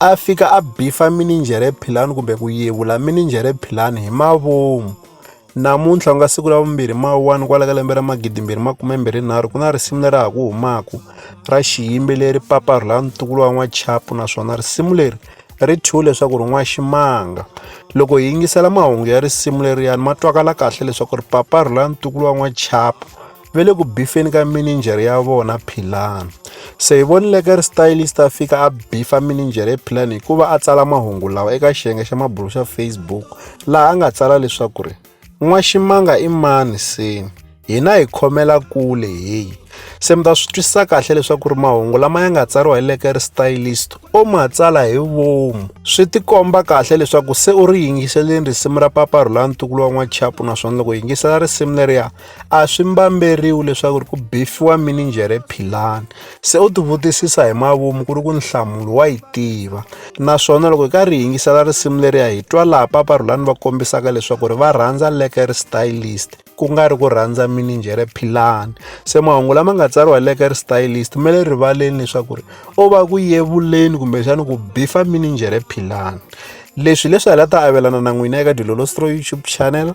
A fika a bifa minijhere Philani kumbe ku yevula minijhere Philani hi mavomu. Namuntlha ku nga siku ra vumbirhi Mawuwani kwala ka lembe ra magidi mbirhi makume mbirhi nharhu ku na risimu leri ha ku humaku ra xiyimbeleri Papa Rhulani ntukulu wa N'wachapu naswona risimu leri ri thyiwe leswaku ri N'waximanga. Loko hi yingisela mahungu ya risimu leriyani ma twakala kahle leswaku ri Papa Rhulani ntukulu wa N'wachapu ve le ku bifeni ka mininjhere ya vona philani se hi vonile ka ri stylist a fika a bifa mininjhere ya philani hikuva a tsala mahungu lawa eka xiyenge xa mabulu xa facebook laha a nga tsala leswaku ri n'waximanga i mani seni hina hi khomela kule heyi se mi ta swi twisisa kahle leswaku ri mahungu lama ya nga tsariwa hi leke ri stylist o ma tsala hi vomu swi tikomba kahle leswaku se u ri yingiseleni risimu ra papa rhula ntukulu wa n'wachapu naswona loko yingisela risimu leriya a swi mbamberiwi leswaku ri ku befiwa mininjhere philani se u tivutisisa hi mavomu ku ri ku nhlamulo wa yi tiva naswona loko hi karhi hi yingisela risimu leriya hi twa laha papa rhulani va kombisaka leswaku ri va rhandza leker stylist ku nga ri ku rhandza mininjhere philani se mahungu lama nga tsariwa hi leker stylist ma le rivaleni leswaku ri o va ku yevuleni kumbexani ku bifa mininjhere philani leswi leswi hala ta avelana na n'wina eka dilolostro youtube channel